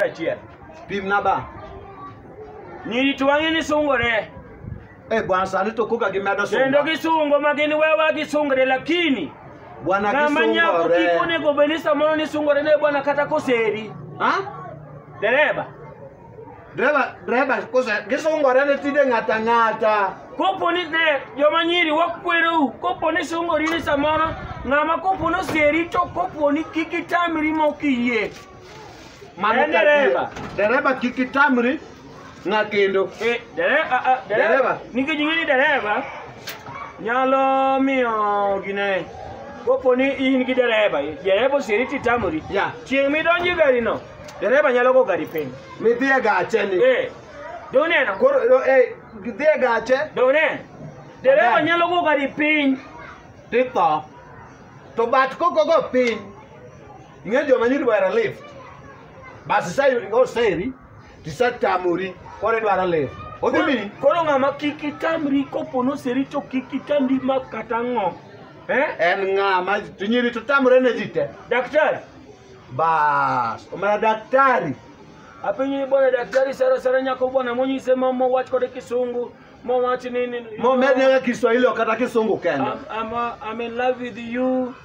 achiel. Pim na ba. Nyiri to wang'e ni sungore. Eh, bwana sani to koka gimedo sunga. Kendo gisungo ma gin wewa gisungre lakini bwana kisungore. Ng'ama nyako kik onego bed ni samoro ni sungore ne bwana kata koseri. Ha? Dereba. Dereba, dereba kose gisungore ne tinde ng'ata ng'ata. Kopo ni ne joma nyiri wakwerou, kopo ni sungori ni samoro ng'ama kopo ni oseri to kopo ni kik itamri mok iyie. Mano En ka dereva. adiera. Dereva kik itamri ng'a kendo. Eh, dereva, ah, ah, dereva. Dereva. Nikech ing'e ni dereva nyalo miyo gine kopo ni in gi dereva, dereva osieri titamori. Ya. Chieng' midonjo e garino, dereva nyalo go gari piny. Midhi e gache ni. Eh, be uneno? Koro no, eh, gidhi e gache Be uneno? Dereva Amen. nyalo go gari piny. titho. To bat kokogo piny ing'eyo joma nyiri wera lift basi sa oseri tisatamori koro idwaro lift odhi mini koro ng'ama kik itamri kopo noseri to kik itamri ma kata ng'o eh? en ng'ama to nyiri to tamore ne ji te daktari bas omana daktari apenyo ni bwana daktari sara sara nyako bwana monyise ma mowach kode kisungu mowach nini momednega kiswahili ok kata kisungu kende I'm, I'm, uh, I'm in love with you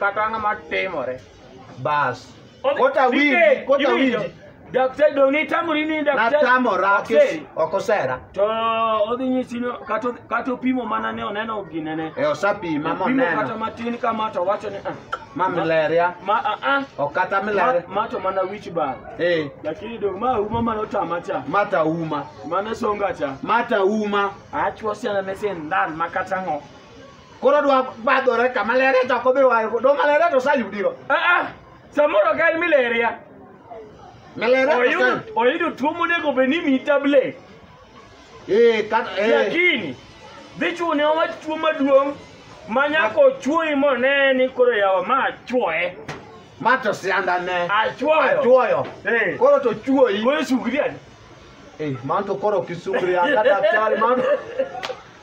kata ang'o ma timore bas Odhi- kota DK, winji kota iwinjo? winji daktari dong' nitamori ni daktari natamora ok seri. ok osera to odhi nyisi ni kata kata opimo mana ne oneno ginene e osapima opimo kata moneno matin kama to wacho ni ah, ma mileria ma ah, ah, ok kata ma, mileria ma to mana wich bar eh lakini dong' ma uma mane otama cha mata uma mane songa cha mata uma achwo siana ne sindan ma kata ng'o koro dwa badhore kama lere to ok odhi wayo do malere to osayudigo Aa, samoro ka en mileria malere to oyudo osayud oyudo tuo monego bed ni mi tablet ee kata ee lakini dhi chune owach tuo maduong' ma nyaka ochuoyi mone ni koro yawa ma achuoye ma to sianda ne achuoyo achuoyo Eh, koro to chuoyi koro sugri adi Eh, man to koro kisugria kata chali man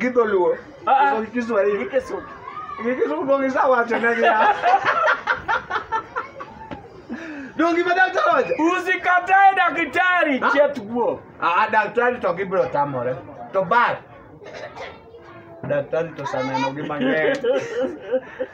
Gi dholuo. Ah, ah. Gi Kiswahili. Gi Kisumu. Gi Kisumu donge isawacho ne gi ya. Donge ma daktari wacho. Usikatae daktari Ah. chet guo. Ah, daktari to gibiro tamore. To bad. Daktari to saneno gi mang'eny.